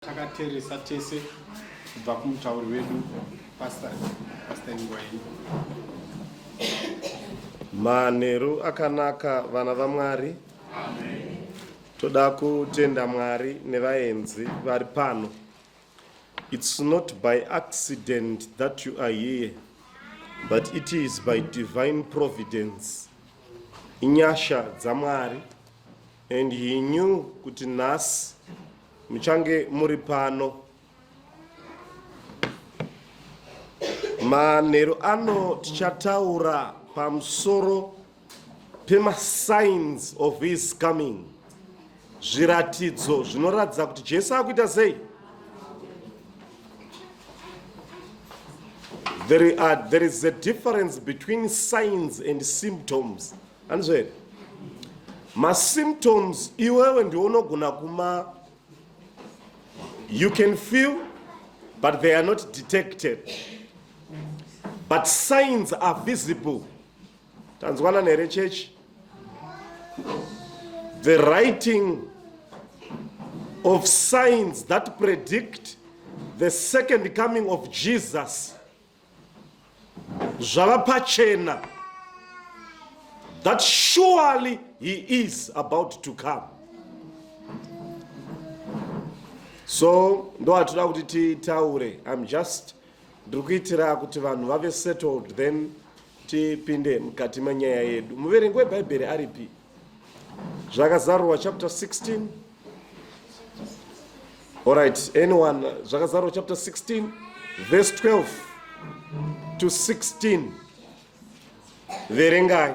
takateresa tese kubva kumutauri wedu pasta pasta ingwaini manheru akanaka vana vamwari toda kutenda mwari nevaenzi vari pano It's not by accident that you are here, but it is by divine providence. Inyasha dzamwari and he knew kuti nhasi muchange muri pano manheru ano tichataura pamusoro pemasigns of his coming zviratidzo zvinoratidza kuti jesu akuita sei there, are, there is a difference between signs and symptoms anizvo here masymptoms iwewe ndiwo unogona kuma you can feel but they are not detected but signs are visible tanzwanana here chechi the writing of signs that predict the second coming of jesus zvava pachena that surely he is about to come so ndo hatida kuti titaure im just ndiri kuitira kuti vanhu vave settled then tipinde mukati menyaya yedu muverengi webhaibheri aripi zvakazarurwa chapter 16 allright anyone zvakazarurwa chapter 16 verse 12 to 16 verengai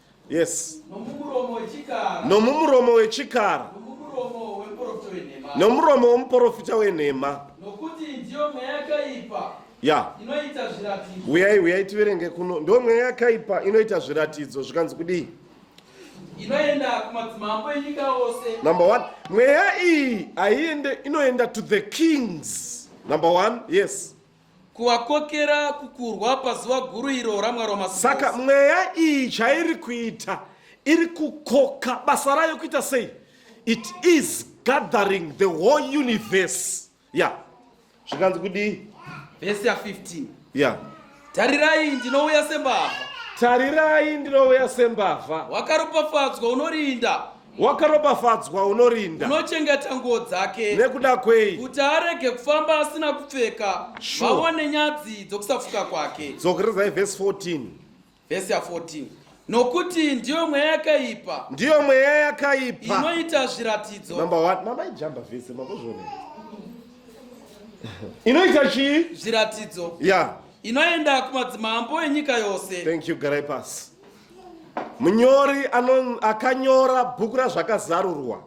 yes nomumuromo wechikara nomuromo womuporofita wenhema ya huyai huyai tiverenge kuno ndo mweya yakaipa inoita zviratidzo zvikanzi kudii number one mweya iyi haiende inoenda to the kings number one yes kuvakokera kukurwa pazuva guru iro ramwari wamasi saka mweya iyi chairi kuita iri kukoka basa rayo kuita sei it is gathering the whole universe ya yeah. zvikanzi kudii vhesi ya 15 ya yeah. tarirai ndinouya sembavha tarirai ndinouya sembavha wakaropafadzwa unorinda wakaropafadzwa unorinda unochengeta nguo dzake nekuda kwei kuti arege kufamba asina kupfeka Sure. vaone nyadzi dzokusafuka kwake dzokererai vhesi 14 vhesi ya 14 nokuti ndiyo mweya yakaipa ndiyo mweya yakaipa inoita zviratidzo number one mama ijamba vhesi makuzvionera inoita chii zviratidzo ya inoenda kumadzimambo enyika yose thank you garai pasi munyori akanyora bhuku razvakazarurwa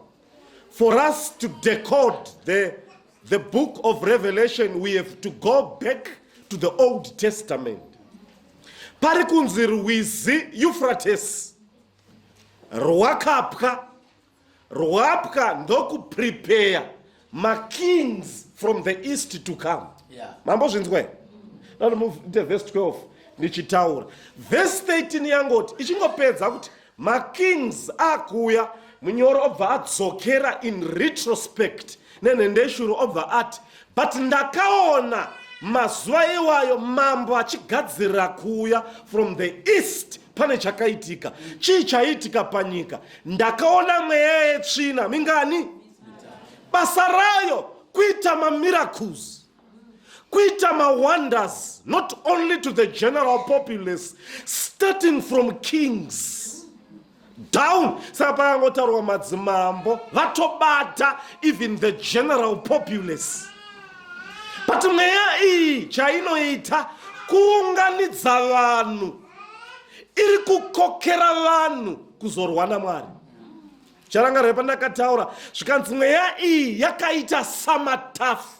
for us to decode the, the book of revelation we have to go back to the old testament pari kunzi rwizi eufrates rwakapwa rwapwa ndokuprepeya makings from the east to come yeah. mambo zvinzwai ndomuite vhesi 12 ndichitaura vhesi 13 yangoti ichingopedza kuti makings akuuya munyoro obva adzokera in retrospect nenhendeshuro obva ati but ndakaona mazuva iwayo mambo achigadzirira kuuya from the east pane chakaitika chii chaiitika panyika ndakaona mweya yetsvina mingani basa rayo kuita mamiracles kuita mawonders not only to the general populace starting from kings down saka pakangotaurwa madzimambo vatobata even the general populace but mweya iyi chainoita kuunganidza vanhu iri kukokera vanhu kuzorwa namwari charangarwe pandakataura zvikanzi mweya iyi yakaita samatafu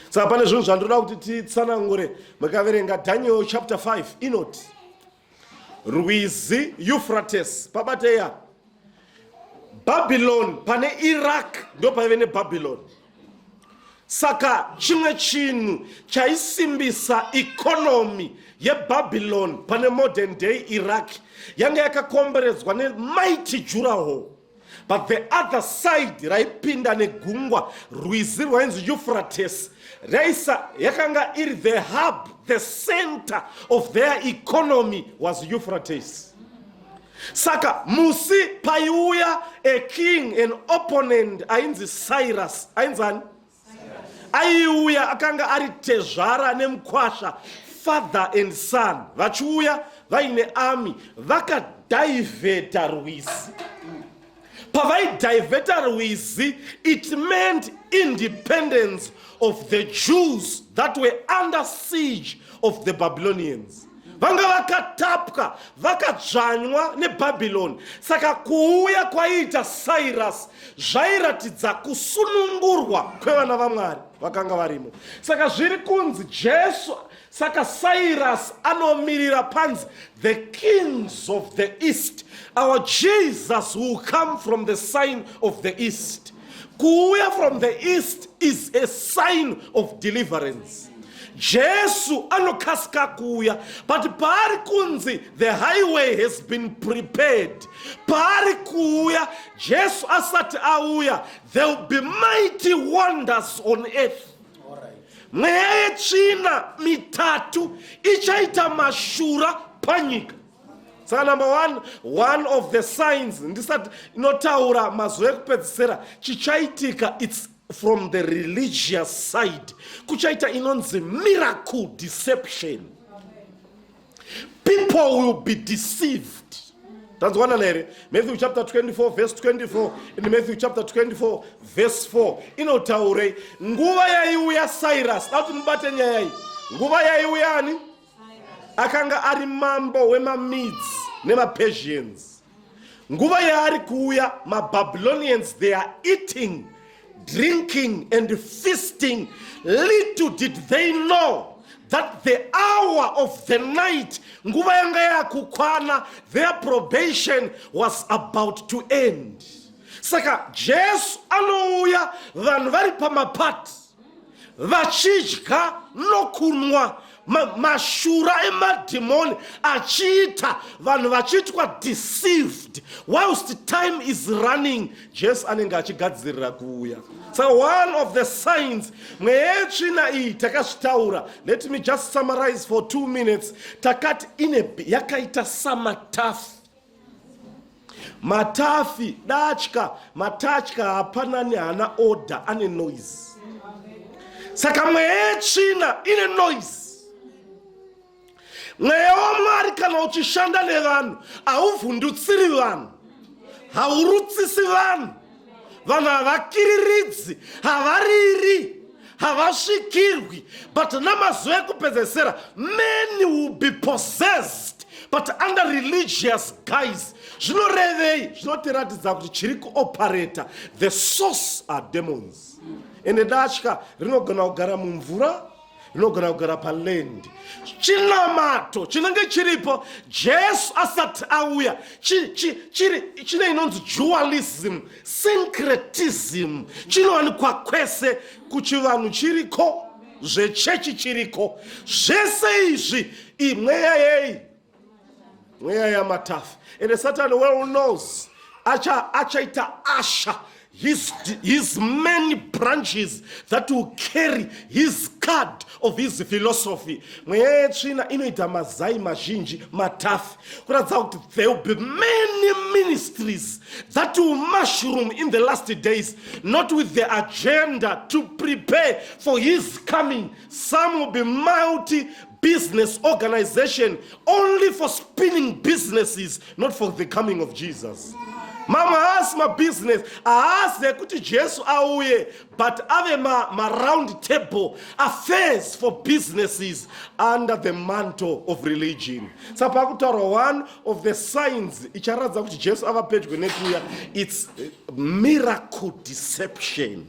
saka pane zvinhu zvandoda kuti titsanangure makaverenga daniel chapter 5 inoti rwizi Euphrates pabateya Babylon pane Iraq ndo paive ne Babylon saka chimwe chinhu chaisimbisa economy ye Babylon pane modern day Iraq yanga yakakomberedzwa ne mighty jurahall but the other side raipinda negungwa rwizi rwainzi euphrates raisa yakanga iri the hub the center of their economy was euphrates saka musi paiuya a king an opponent ainzi cyrus ainzani aiuya akanga ari tezvara nemukwasha father and son vachiuya vaine ami vakadhaivheta rwizi pavaidhaivheta rwizi it meant independence of the jews that were under siege of the babylonians vanga vakatapwa vakadzvanywa nebhabhironi saka kuuya kwaiita sairasi zvairatidza kusunungurwa kwevana vamwari vakanga varimo saka zviri kunzi jesu saka sairasi anomirira panzi the kings of the east our jesus will come from the sign of the east kuuya from the east is a sign of deliverance jesu anokasika kuuya but paari kunzi the highway has been prepared paari kuuya jesu asati auya there will be mighty wonders on earth mweya yetsvina mitatu ichaita mashura panyika saka number one one of the signs ndisati inotaura mazuva ekupedzisira chichaitika its from the religious side kuchaita inonzi miracle deception people will be deceived tanzwanana here matthew chapter 24 verse 24 in matthew chapter 24 verse 4 inotaurei nguva yaiuya cyrus dati mubate nyaya iyi nguva yaiuya ani akanga ari mambo wemamids nemapersians nguva yaari kuuya mababylonians they are eating drinking and feasting little did they know that the hour of the night nguva yanga yakukwana their probation was about to end saka jesu anouya vanhu vari pamapati vachidya nokunwa mashura emadhimoni achiita vanhu vachiitwa deceived whilst time is running jesu anenge achigadzirira kuuya so one of the signs mweya yetsvina iyi takazvitaura let me just summarize for two minutes takati ine yakaita samatafu matafi datya matatya hapanani haana order ane noise saka mweya yetsvina ine noise mweya wamwari kana uchishanda nevanhu hauvhundutsiri vanhu haurutsisi vanhu vanhu havakiriridzi havariri havasvikirwi but namazuva ekupedzesera man will be possessed but under religious guys zvinorevei zvinotiratidza kuti chiri kuoperata the source are demons ende datya rinogona kugara mumvura inogona kugara palendi chinamato chinenge chiripo jesu asati auya chine inonzi jualism syncretism chinowanikwa kwese kuchivanhu chiriko zvechechi chiriko zvese izvi imweya yei mweya yamatafi ende satani well knows acha achaita asha his, his many branches that will carry his card of his philosophy mweya yetsvina inoita mazai mazhinji matafi kuratidza kuti there will be many ministries that will mushroom in the last days not with the agenda to prepare for his coming some will be multi business organization only for spinning businesses not for the coming of jesus mamwe haasi mabusiness haasi ekuti jesu auye but ave maround ma table affairs for businesses under the mantle of religion sa pakutaurwa one of the signs icharatidza kuti jesu ava pedyo nekuya its miracle deception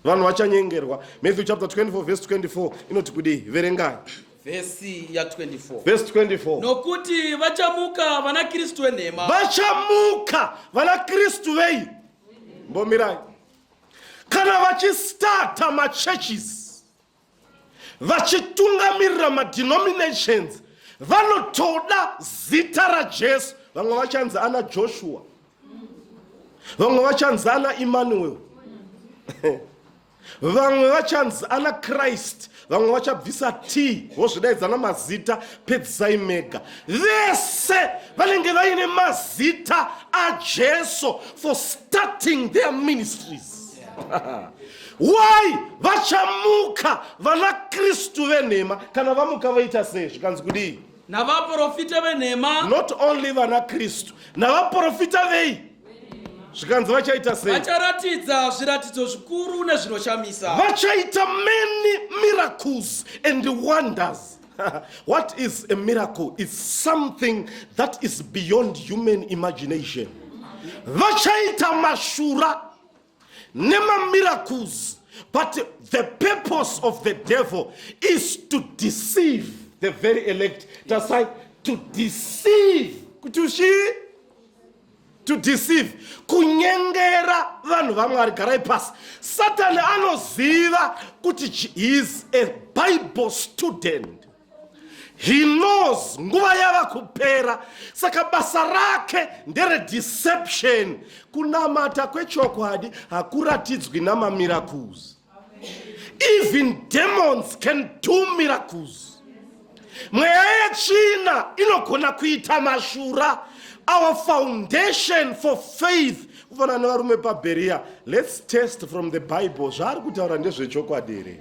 vanhu vachanyengerwa matthew chapter 24 verse 24 inoti kudii verengai vhesi ya 24 verse 24 nokuti vachamuka vana kristu venhema vachamuka vana kristu vei mbomirai kana vachistata machurches vachitungamirira madenominations vanotoda zita rajesu vamwe vachanzi ana joshua vamwe vachanzi ana emmanuel vamwe vachanzi ana krist vamwe vachabvisa t vozvidaidzana mazita pedzisai mega vese vanenge vaine mazita ajesu for starting their ministries why vachamuka vana kristu venhema kana vamuka vaita sei zvikanzi kudii navaprofita venhema not only vana kristu navaprofita vei zvikanzi vachaita sei vacharatidza zviratidzo zvikuru nezvinoshamisa vachaita many miracles and wonders what is a miracle is something that is beyond human imagination vachaita mashura nemamiracles but the purpose of the devil is to deceive the very elect tasai to deceive kuti ushii to deceive kunyengera vanhu vamwari garai pasi satani anoziva kuti he is a bible student he knows nguva yava kupera saka basa rake nderedeception kunamata kwechokwadi hakuratidzwi namamiracles even demons can do miracles mweya yetsvina inogona kuita mashura our foundation for faith kufanana nevarume pabheriya let's test from the bible zvaari kutaura ndezvechokwadi here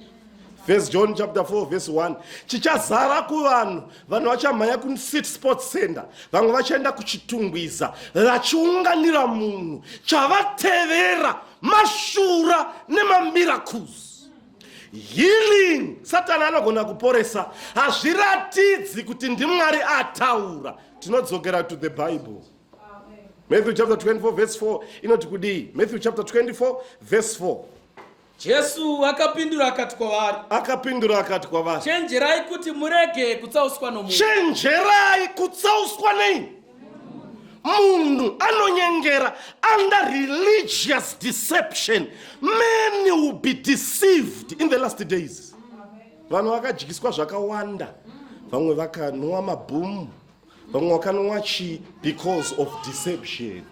First John chapter 4 verse 1 chichazara kuvanhu vanhu vachamhanya kusit sports center vamwe vachaenda kuchitungwiza vachiunganira munhu chavatevera mashura nemamiracles healing satani anogona kuporesa hazviratidzi kuti ndimwari ataura tinodzokera to the bible matthew chapter 24 verse 4 inoti kudii matthew chapter 24 verse 4 Jesu akapindura akati kwavari. Akapindura akati kwavari. Chenjerai kuti murege kutsauswa nomunhu. Chenjerai kutsauswa nei? munhu anonyengera under religious deception many will be deceived in the last days vanhu vakadyiswa zvakawanda vamwe vakanwa mabhumu vamwe wakanwa chii because of deception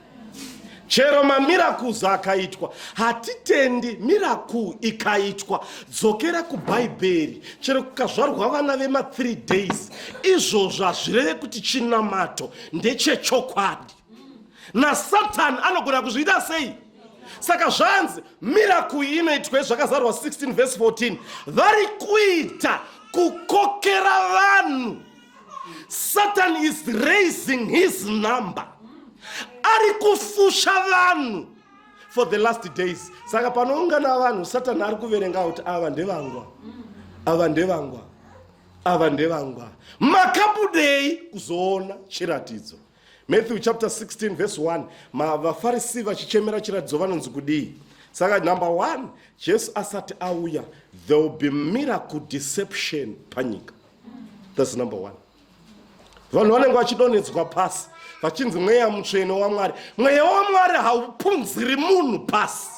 chero mamiracles akaitwa hatitendi miracle ikaitwa dzokera kubhaibheri chero kukazvarwa vana vema 3 days izvozvo hazvireve kuti chinamato ndechechokwadi nasatani anogona kuzviita sei saka zvanzi miracle inoitwa zvakazarwa 16 vese 14 vari kuita kukokera vanhu satan is raising his number ari kufusha vanhu for the last days saka panoungana vanhu satani ari kuverenga kuti ava ndevangwa ava ndevangwa ava ndevangwa makabudei kuzoona chiratidzo matthew chapter 16 verse 1 vafarisi vachichemera chiratidzo vanonzi kudii saka number one jesu asati auya there will be miracle deception panyika thats number one vanhu vanenge vachidonhedzwa pasi vachinzi mweya mutsvene wamwari mweya wamwari haupunziri munhu pasi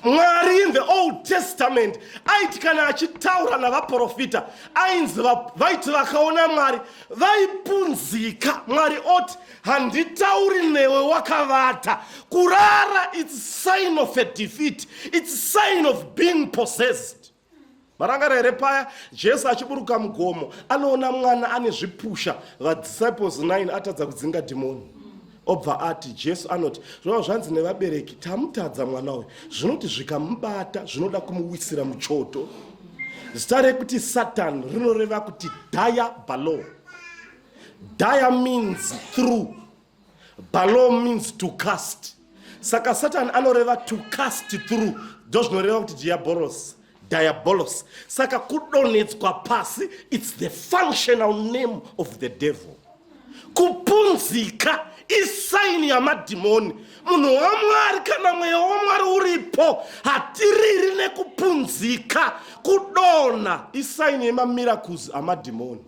mwari in the old testament aiti kana achitaura navaprofita ainzi vaiti vakaona mwari vaipunzika mwari oti handitauri newe wakavata kurara its sign of a defeat its sign of being possessed marangara here paya jesu achiburuka mugomo anoona mwana ane zvipusha vadisciples 9 atadza kudzinga dhimoni obva ati jesu anoti zvava zvanzi nevabereki tamutadza mwana uyu zvinoti zvikamubata zvinoda kumuwisira muchoto zita rekuti satan rinoreva kuti daya balo daya means through Balom means to cast. Saka Satan anoreva to cast through. Ndozvinoreva kuti diabolos. Diabolos. Saka kudonetswa pasi it's the functional name of the devil. Kupunzika isaini yamadhimoni. Munhu waMwari kana mweya waMwari uripo hatiriri nekupunzika kudona isaini yemamiracles amadhimoni.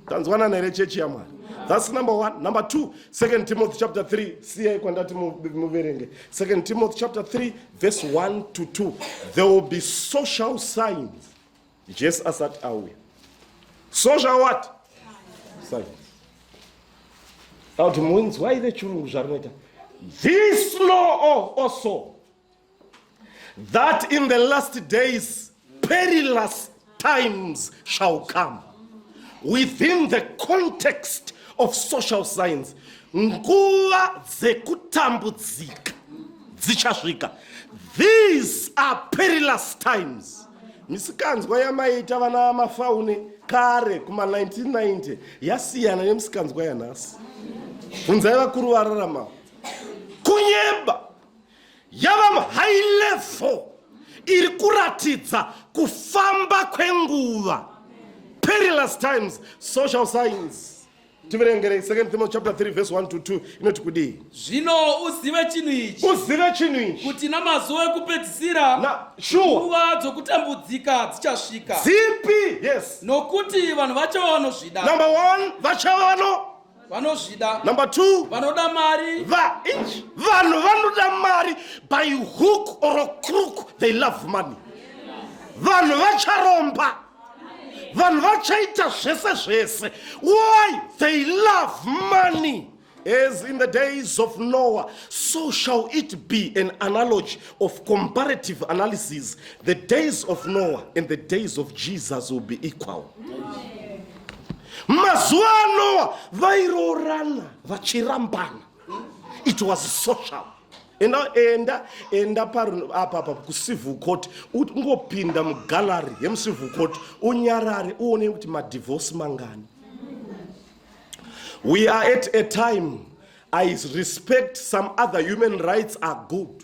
tanzwanana here chechi yamwari thats number one number two second timothy chapter 3 siyai kwandati muverenge second timothy chapter 3 verse 1 to 2 there will be social signs jesu asati auya social what signs auti munzwai vechirungu zvarinoita this law also that in the last days perilous times shall come within the context of social science nguva dzekutambudzika dzichasvika these are perilous times misikanzwa yamaiita vana mafaune kare kuma 1990 yasiyana nemisikanzwa yanhasi bvunzai vakuru vararamawo kunyeba yava muhigh level iri kuratidza kufamba kwenguva perilous times social science tiverengerei second thimo chapter 3 verse 1 to 2 inoti kudii zvino uzive chinhu ichi uzive chinhu ichi kuti namazuva ekupedzisira Na- sure. nguva dzokutambudzika dzichasvika zipi yes nokuti vanhu vacho vanozvida number one vachava vano vanozvida number two vanoda mari va inch vanhu vanoda mari by hook or crook they love money vanhu vacharomba vanhu vachaita zvese zvese why they love money as in the days of noah so shall it be an analogy of comparative analysis the days of noah and the days of jesus will be equal Amen. mazuva anoa vairoorana vachirambana it was social enda enda enda paapapa kucivil court ungopinda mugallery yemucivil court unyarare uone kuti madivorce mangani we are at a time i respect some other human rights are good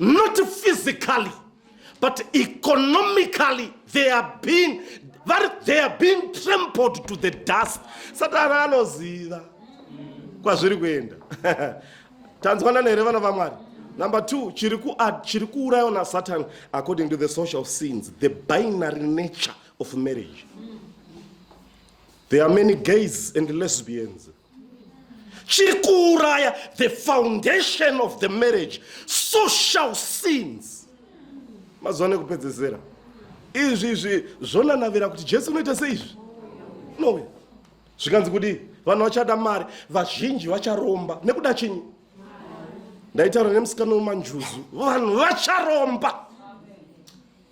not physically but economically they are being vari they are being trampled to the dust satana anoziva kwazviri kuenda tanzwanana here vana vamwari number two chiri chiri kuurayiwa nasatan according to the social scenes the binary nature of marriage there are many gays and lesbians mm. chiri kuuraya the foundation of the marriage social sins mazuva nekupedzesera izvi izvi zvonanavira kuti jesu unoita seizvi nowe zvikanzi kudii vanhu vachada mari vazhinji vacharomba nekuda chinyi ndaitaura nemusikana wemanjuzu vanhu vacharomba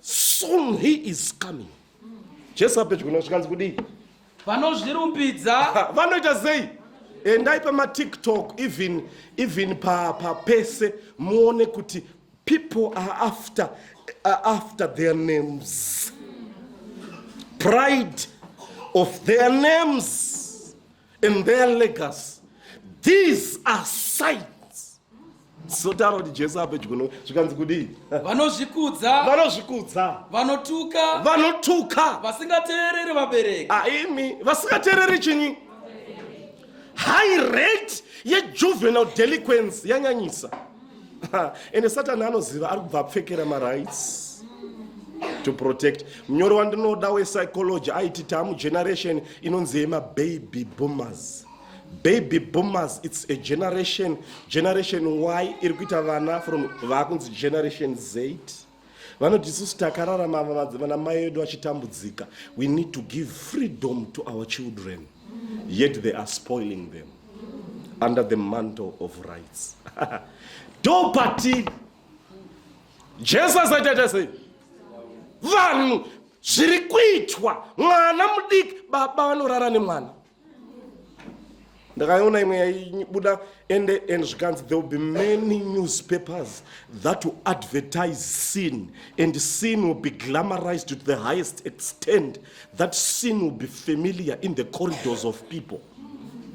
soon he is coming jesu apedyo nosvikanzi kudii vanozvirumbidza vanoita sei endai pamatiktok even even papese pa muone kuti people are after, are after their names pride of their names and their legacy these are signs zotaro kuti jesu apedyo zvikanzi kudii vanozvikudza vanozvikudza vanotuka vanotuka vasingateereri vabereki aimi ah, vasingateereri chinyi high rate yejuvenal delinquence yanyanyisa ende satani anoziva ari kubva apfekera marights to protect munyori wandinoda wepsychology aiti tamu generation inonzi yemababy boomers baby boomers its a generation generation y iri kuita vana from vaakunzi generation zate vanoti isusu takararama vana mai vedu vachitambudzika we need to give freedom to our children yet they are spoiling them under the mantle of rights ndopatiri jesu asaitaita sei vanhu zviri kuitwa mwana mudiki baba vanorara nemwana ndakaiona imwe yaibuda ende and zvikanzi there will be many newspapers that will advertise sin and sin will be glamorized to the highest extent that sin will be familiar in the corridors of people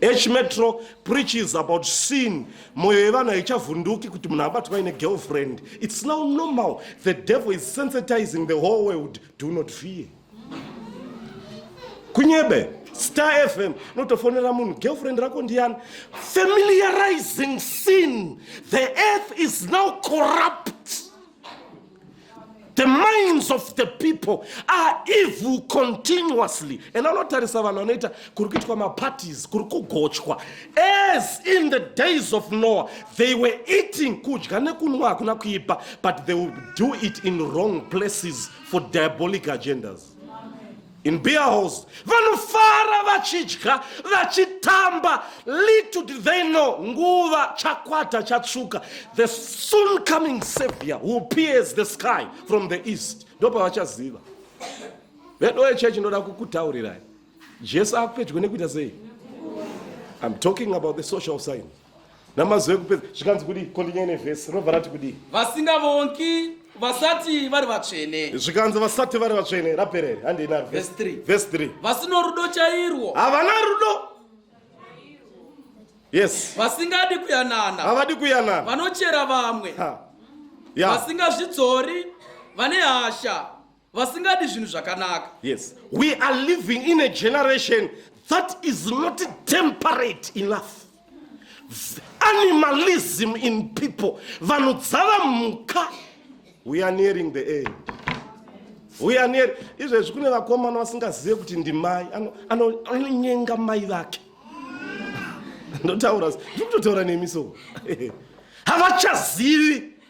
h metro preaches about sin moyo yevanhu haichavhunduki kuti munhu abatwa ine girlfriend it's now normal the devil is sensitizing the whole world do not fear kunyebe star fm notofonera munhu girlfriend rako ndiyani familiarizing sin the earth is now corrupt the minds of the people are evil continuously and anotarisa vanhu vanoita kuri kuitwa maparties kuri kugochwa as in the days of noah they were eating kudya nekunwa hakuna kuipa but they would do it in wrong places for diabolic agendas in beer halls vanofara vachidya vachitamba little did they know nguva chakwata chatsvuka the soon coming savior who appears the sky from the east ndopavachaziva vedoye church ndoda kukutaurirai jesu akupedyo nekuita sei i'm talking about the social science namazuva ekupedza zvikanzi kudii kondinyaya nevhesi rinobva rati kudii vasingavongi vasati vari vatsvene zvikanzi vasati vari vatsvene raperere handiinarvhesi 3 vasino rudo chairwo havana rudo yes vasingadi kuyanana havadi kuyanana vanochera vamwe vasingazvidzori vane hasha vasingadi zvinhu zvakanaka yes we are living in a generation that is not temperate enough animalism in people vanhu dzava mhuka we are nearing the end we are near izvezvi kune vakomana vasingazive kuti ndimai anonyenga mai vake ndotaura ndiri kutotaura nemi so havachazivi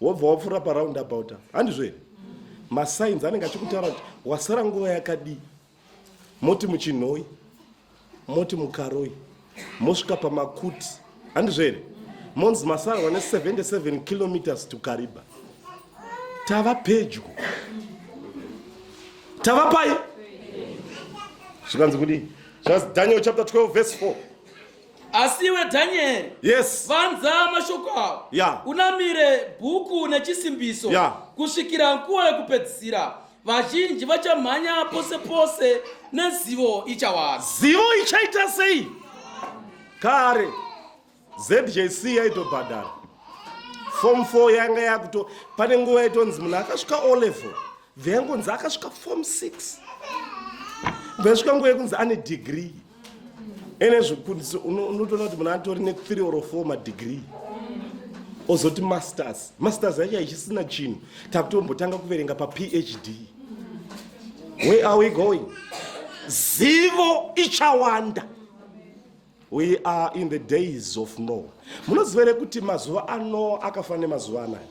wobva wapfuura paround about apa handizvo here masigns anenge achikutaura kuti wasara nguva yakadii moti muchinhoi moti mukaroi mosvika pamakuti handizvo here monzi masarwa ne 77 kilometers to kariba tava pedyo tava pai zvikanzi kudii zvanzi daniel chapter 12 verse 4 asi iwe dhanyeri yes vanza mashoko avo yeah. unamire bhuku nechisimbiso yeah. kusvikira nguva yekupedzisira vazhinji vachamhanya pose pose nezivo ichawanda zivo ichaita sei kare zjc yaitobhadhara fom 4 yanga yakuto pane nguva yaitonzi munhu akasvika olevel veangonzi akasvika form six vesvika nguva yekunzi ane degree ene zvikundiso unotoona kuti munhu atori nethree or four madegree ozoti masters masters yacho haichisina chinhu takutombotanga kuverenga paphd where are we going zivo ichawanda We are in the days of Noah. Munoziva here kuti mazuva aNoa akafanana nemazuva anaya?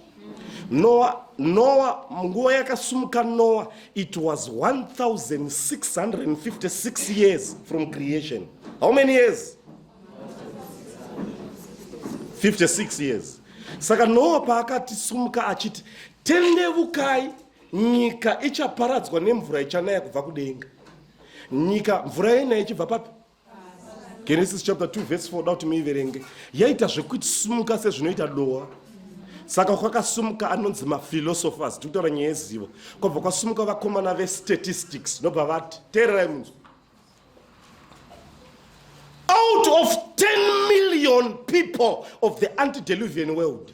Noa, Noa, nguva yakasumuka Noa, it was 1656 years from creation. How many years? 56 years. Saka Noa paakati sumuka achiti tendevukai nyika ichaparadzwa nemvura ichanaya kubva kudenga. Nyika mvura yenaya ichibva papi? genesis chapter 2 verse 4 da kuti muiverenge yaita zvekuti sumuka sezvinoita dowa saka kwakasumuka anonzi maphilosophers tiri kutaura nyaya yezivo kwabva kwasumuka vakomana vestatistics nobva vati teererai munzwa out of 10 million people of the antideluvian world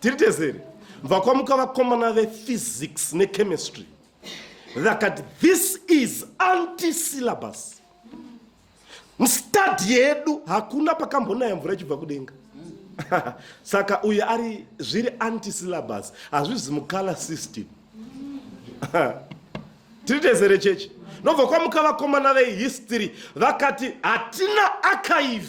tiri tezere vakwamuka vakomana vephysics nechemistry vakati this is anti syllabus mstadi yedu hakuna pakambonaya mvura ichibva kudenga saka uyu ari zviri anti syllabus hazvizi mucolor system tiri tezere chechi nobva kwamuka vakomana vehistory vakati hatina archive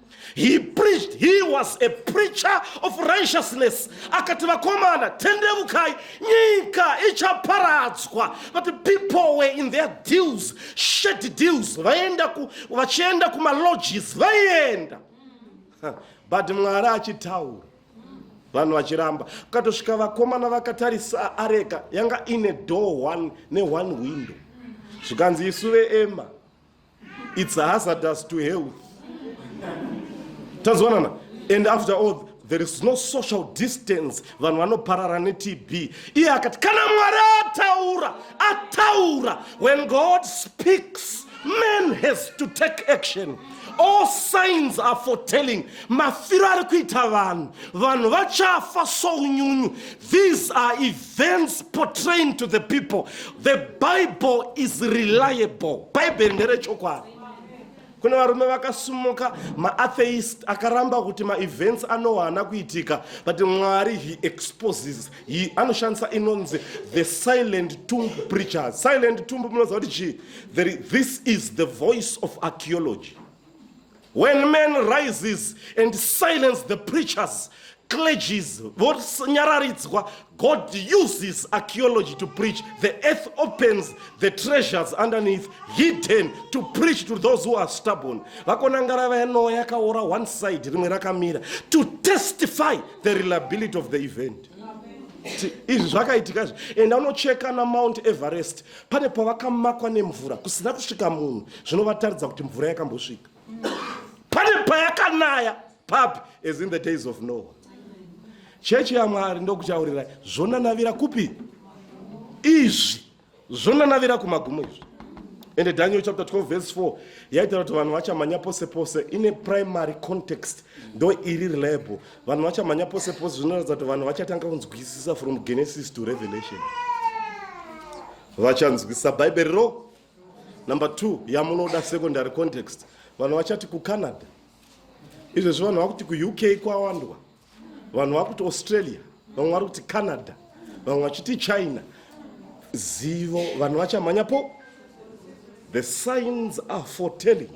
he preached he was a preacher of righteousness akati vakomana tendevukai nyika ichaparadzwa but the people were in their deals shady deals vaenda ku vachienda kumalodges vaienda but mwari achitaura vanhu vachiramba ukatosvika vakomana vakatarisa areka yanga ine door one neone window zvikanzi isu veema its hazardous to health tazwanana and after all there is no social distance vanhu vanoparara netb iye akati kana mwari ataura ataura when god speaks man has to take action all signs are foretelling mafiro ari kuita vanhu vanhu vachafa sounyunyu these are thens portraying to the people the bible is reliable bhaibheri nderechokwadi kune varume vakasumuka maatheist akaramba kuti maevents anowa haana kuitika but mwari he exposes he anoshandisa inonzi the silent tomb preachers silent tomb munoziva kuti chii this is the voice of archeology When man rises and silence the preachers, clergies, vonyararidzwa, God uses archaeology to preach. The earth opens the treasures underneath, hidden, to preach to those who are stubborn. Vakonangara vayanoa yakaora one side, rimwe rakamira, to testify the reliability of the event. izvi zvakaitika izvi enda unocheka namount everest pane pavakamakwa nemvura kusina kusvika munhu zvinovataridza kuti mvura yakambosvika pane payakanaya papi as in the days of noah chechi yamwari ndokuchaurirai zvonanavira kupi izvi zvonanavira kumagumo izvi ende daniel chapter 12 verse 4 yaitaura kuti vanhu vachamhanya pose pose ine primary context ndo iri reliable vanhu vachamhanya pose pose zvinoratidza kuti vanhu vachatanga kunzwisisa from genesis to revelation vachanzwisisa bhaibheri ro number two yamunoda secondary context vanhu vachati kucanada izvezvi vanhu vakuti kuuk kwawandwa vanhu vakuti australia vamwe vari kuti canada vamwe vachiti china zivo vanhu vachamhanya po the signs are foretelling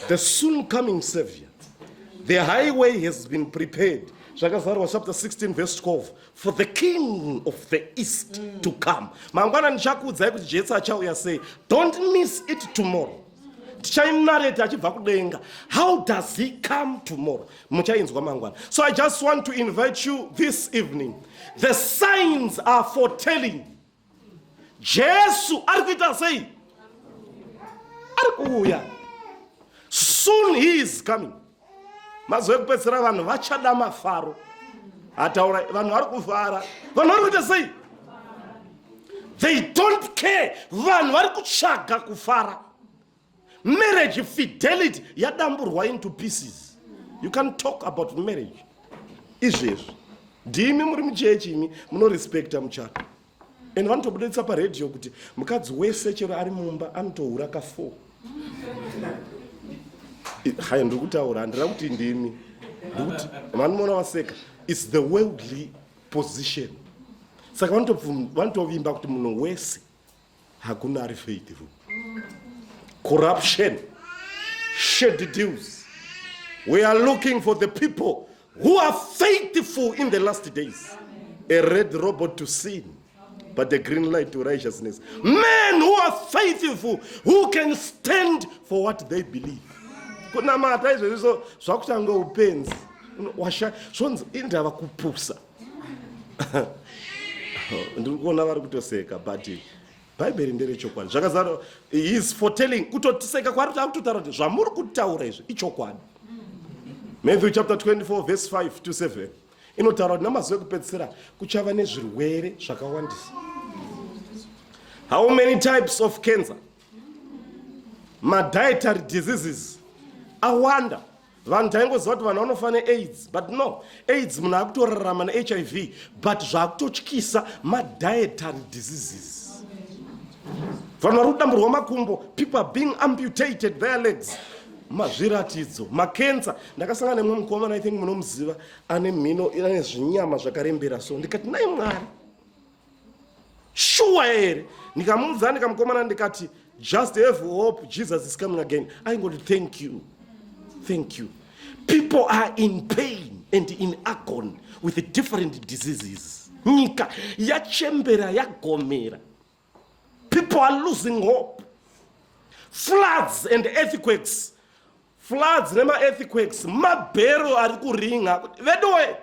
the soon coming savior the highway has been prepared zvakazarwa chapter 16 verse 12 for the king of the east mm. to come mangwana ndichakuudzai kuti jesu achauya sei don't miss it tomorrow tichainareti achibva kudenga how does he come tomorrow muchainzwa mangwana so i just want to invite you this evening the signs are for telling jesu ari kuita sei ari kuuya soon he is coming mazuva ekupedzisira vanhu vachada mafaro ataura vanhu vari kufara vanhu vari kuita sei they don't care vanhu vari kutsvaga kufara marriage fidelity yadamburwa into pieces you can talk about marriage izvezvi ndimi muri muchechi imi munorespecta muchato and vanotobuditsa paradio kuti mukadzi wese chero ari mumba anotohura ka four hai ndiri kutaura handira kuti ndimi ndikuti vanoona vaseka its the worldly position saka vanotovimba kuti munhu wese hakuna ari faithful corruption shady deals we are looking for the people who are faithful in the last days a red robot to sin but the green light to righteousness men who are faithful who can stand for what they believe kunamata izvezviso zvakuchanga upenzi washa zvonzi indava kupusa ndiri kuona vari kutoseka but bhaibheri nderechokwadi zvakazara his foretelling kutotiseka kwari tava kutotaura kuti zvamuri kutaura izvi ichokwadi matthew chapter 24 verse 5 to 7 inotaura kuti namazuva ekupedzisira kuchava nezvirwere zvakawandisa how many types of cancer madietary diseases awanda vanhu taingoziva kuti vanhu vanofa neaids but no aids munhu akutorarama nehiv but zvaakutotyisa madietary diseases vanhu vari kudamburwa makumbo people are being amputated their legs mazviratidzo makensa ndakasangana nemwe mukomana i think munomuziva ane mhino ane zvinyama zvakarembera so ndikati nai mwari shuwa here ndikamuudza ndikamukomana ndikati just have hope jesus is coming again aingoti thank you thank you people are in pain and in agony with different diseases nyika yachembera yagomera people are losing hope floods and earthquakes floods nemaearthquakes mabhero ari kuringa veduwe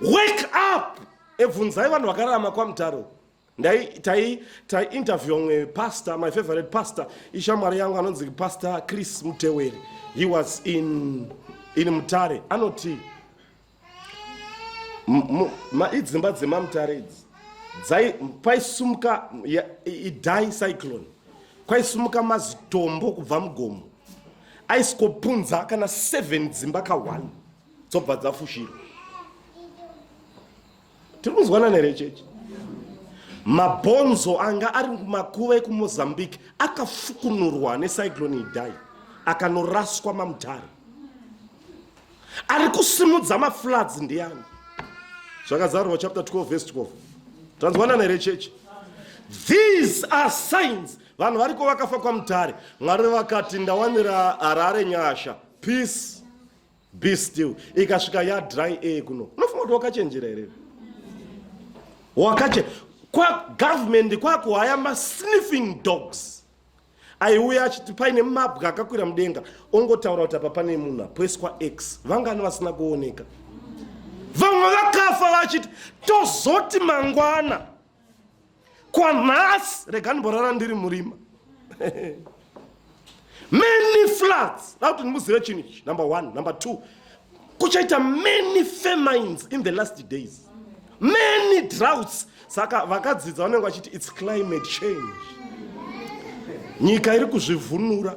wake up ebvunzai vanhu vakararama kwamutaro taiinterview mwe pastor my favorite pastor ishamwari yangu anonzi pastor chris muteweri he was in, in mutare anoti idzimba dzemamutare idzi paisumuka idai cyclone kwaisumuka mazitombo kubva mugomo aisikopunza kana seven dzimba ka one dzobva dzafushirwa tiri kunzwanana here chechi mabhonzo anga ari makuva ekumozambique akafukunurwa necyclone idai akanoraswa mamutare ari kusimudza mafloods ndiani zvakazarurwa chapter 12 vese 12 tanzwanana here chechi these are signs vanhu variko vakafa kwamutare mwari vakati ndawanira harare nyasha peace be still ikasvika ya dry air kuno unofunga kuti wakachenjera here wakache kwa government kwako haya ma sniffing dogs aiuya achiti paine mabwa akakwira mudenga ongotaura kuti apa pane munhu apoiswa x vangani vasina kuoneka vamwe vakafa vachiti tozoti mangwana kwanhasi rega ndimborara ndiri murima many floods da kuti ndimuzive chinhu ichi number one number two kuchaita many famines in the last days many droughts saka vakadzidza vanenge vachiti its climate change nyika iri kuzvivhunura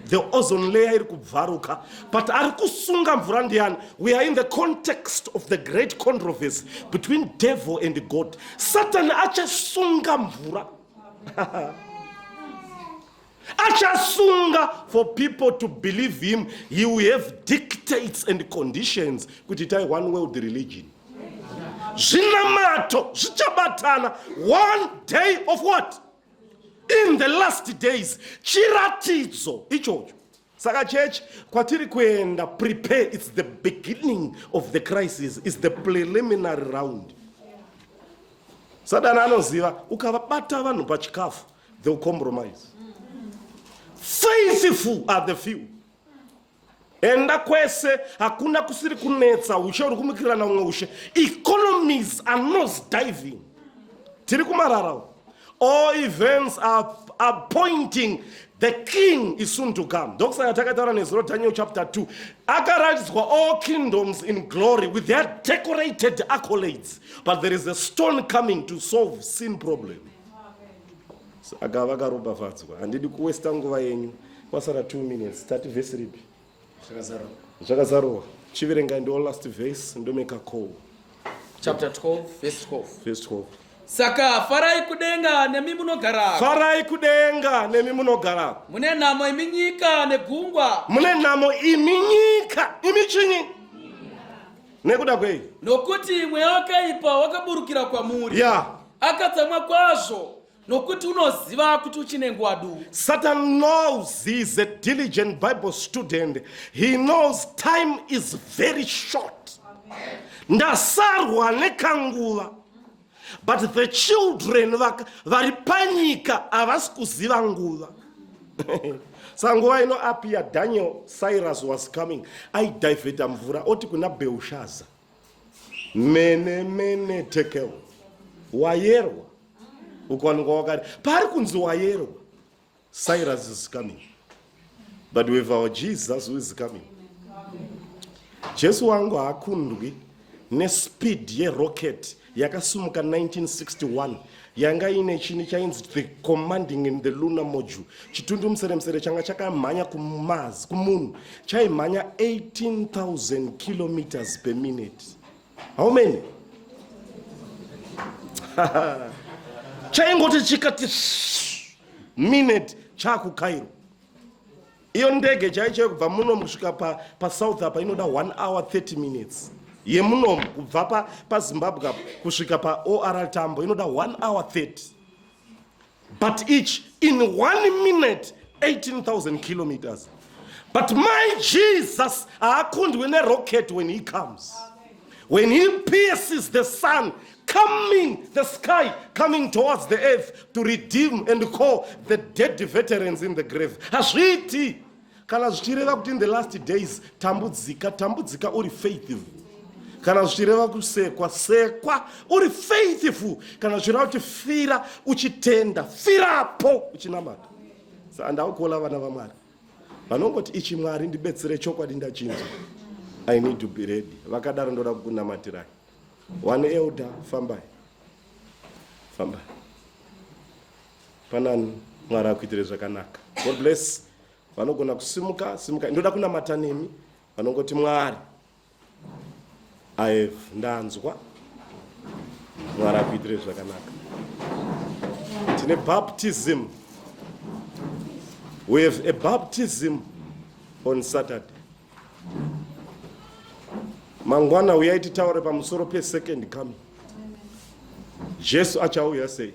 the ozone layer iri kubvaruka but ari kusunga mvura ndiyani we are in the context of the great controversy between devil and god satani achasunga mvura achasunga for people to believe him he will have dictates and conditions kuti itai one world religion zvinamato zvichabatana one day of what in the last days chiratidzo ichocho saka church kwatiri kuenda prepare its the beginning of the crisis is the preliminary round satani anoziva ukavabata vanhu pachikafu theyll compromise faithful are the few enda kwese hakuna kusiri kunetsa ushe uri kumukirirana umwe ushe economies are nos diving tiri kumarara all events are, are pointing the king is soon to come ndokusaka takataura nezuro daniel chapter 2 akaratidzwa all kingdoms in glory with their decorated accolades but there is a stone coming to solve sin problem saka vakaropafadzwa handidi kuwesta nguva yenyu kwasara 2 minutes tati vhesi ripi zvakazarowa chiverengai ndo last vhesi ndomeka call chapter 12 vhesi 12 vhesi 12 saka farai kudenga nemi munogarako farai kudenga nemi munogarako mune nhamo imi nyika negungwa mune nhamo imi nyika imi chinyi nekuda kwei nokuti mweya wakaipa wakaburukira kwamuri ya akatsamwa kwazvo nokuti unoziva kuti uchine nguva duku satan knows he is a diligent bible student he knows time is very short ndasarwa nekanguva but the children vari panyika havasi kuziva nguva sanguva ino apia daniel cyrus was coming aidivheta mvura oti kuna beushaza mene mene tekel wayerwa ukaonekwa wakati paari kunzi wayerwa Cyrus is coming. But with our Jesus who is coming. Jesu wangu haakundwi nespeed yerocket yakasumuka 1961 yanga ine chini chainzi the commanding in the lunar module chitundu museremsere changa chakamhanya kumaz kumunhu chaimhanya 18000 kilometers per minute how many chaingoti chikati minute chakucairo iyo ndege chaichaiyo kubva munomu kusvika pasouth pa apa inoda 1 hour 30 minutes yemunomu kubva pazimbabwe pa apa kusvika paor tambo inoda 1 hour 30 but each in one minute 18000 kilometers but my jesus haakundwe nerocket when he comes Amen. When he pierces the sun coming the sky coming towards the earth to redeem and call the dead veterans in the grave hazviiti kana zvichireva kuti in the last days tambudzika tambudzika uri faithful kana zvichireva kusekwa sekwa uri faithful kana zvichireva kuti fira uchitenda firapo uchinamata so andaukola vana vamwari vanongoti ichi mwari ndibetsere chokwadi ndachinja i need to be ready vakadaro ndoda kukunamatirai one elder fambai fambai panani mwari akuitire zvakanaka god bless vanogona kusimuka simuka ndoda kunamata nemi vanongoti mwari I have ndanzwa mwari akuitire zvakanaka tine baptism we have a baptism on saturday mangwana uyai titaure pamusoro pesecond coming jesu achauya sei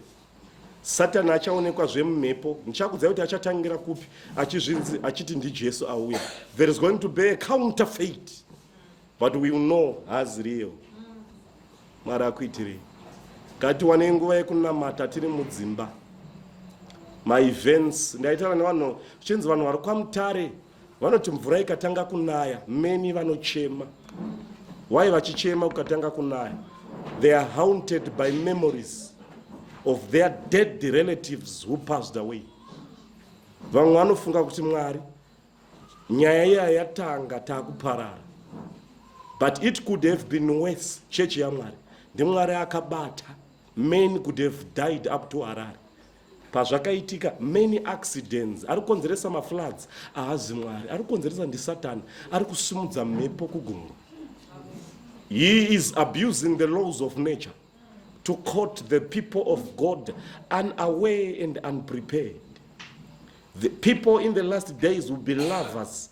satani achaonekwa zvemumhepo ndichakudzai kuti achatangira kupi achizvinzi achiti ndijesu auya there is going to be a counter fate but we know has real mwari akuitirei ngatiwanei nguva yekunamata tiri mudzimba maevents ndaitana nevanhu chinzi vanhu vari kwamutare Vanoti mvura ikatanga kunaya many vanochema. Why vachichema kukatanga kunaya? They are haunted by memories of their dead relatives who passed away. Vamwe vanofunga kuti Mwari nyaya iya yatanga takuparara. But it could have been worse. Chechi yaMwari ndimwari akabata men could have died up to Harare pazvakaitika many accidents ari kukonzeresa mafloods ahazi mwari ari kukonzeresa ndisatani ari kusimudza mhepo kugungwa he is abusing the laws of nature to court the people of god unaware and unprepared the people in the last days will be lovers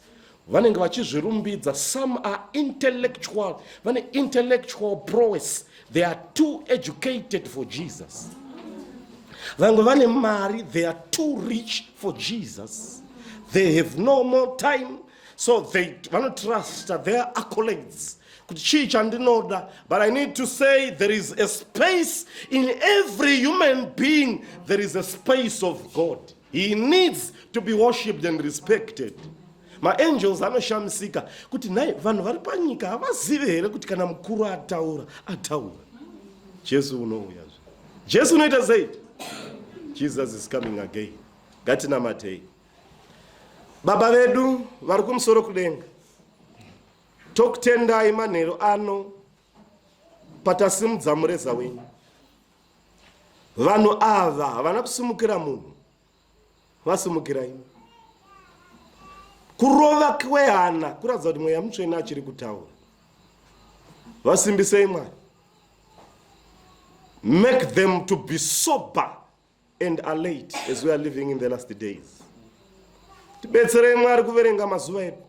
vanenge vachizvirumbidza some are intellectual vane intellectual prowess they are too educated for jesus vamwe vane mari they are too rich for jesus they have no more time so they vanotrusta their accolades kuti chii chandinoda but i need to say there is a space in every human being there is a space of god He needs to be worshipped and respected. Maangels anoshamisika kuti nhai vanhu vari panyika havazive here kuti kana mukuru ataura ataura. Jesu unouya zve. Jesu unoita sei? Jesus is coming again. Ngatinamatei. Baba vedu vari kumusoro kudenga. Tokutendai manheru ano patasimudza mureza wenyu. vanhu ava havana kusimukira munhu vasimukira imi kurova kwehana kuratidza kuti mweya mutsvene achiri kutaura vasimbisei mwari make them to be sober and are late as we are living in the last days tibetserei mwari kuverenga mazuva edu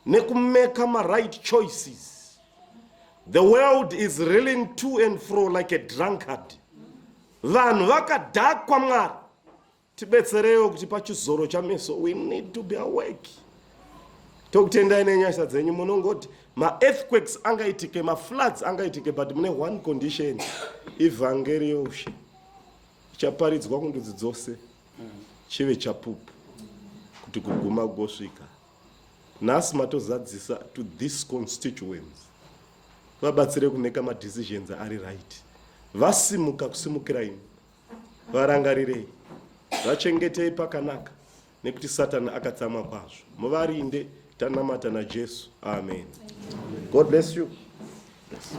nekumeka maright choices the world is reeling to and fro like a drunkard vanhu vakadhakwa mwari tibetsereiwo kuti pachizoro chameso we need to be awake tokutendai nenyasha dzenyu munongoti maearthquakes angaitike mafloods angaitike but mune one condition ivhangeri youshe chaparidzwa kundudzi dzose chive chapupu kuti kuguma kugosvika nhasi matozadzisa to this constituents vabatsire kumeka madecisions ari right vasimuka kusimukira imi varangarirei vachengetei pakanaka nekuti satani akatsamwa kwazvo muvarinde tanamata najesu amen god bless you yes.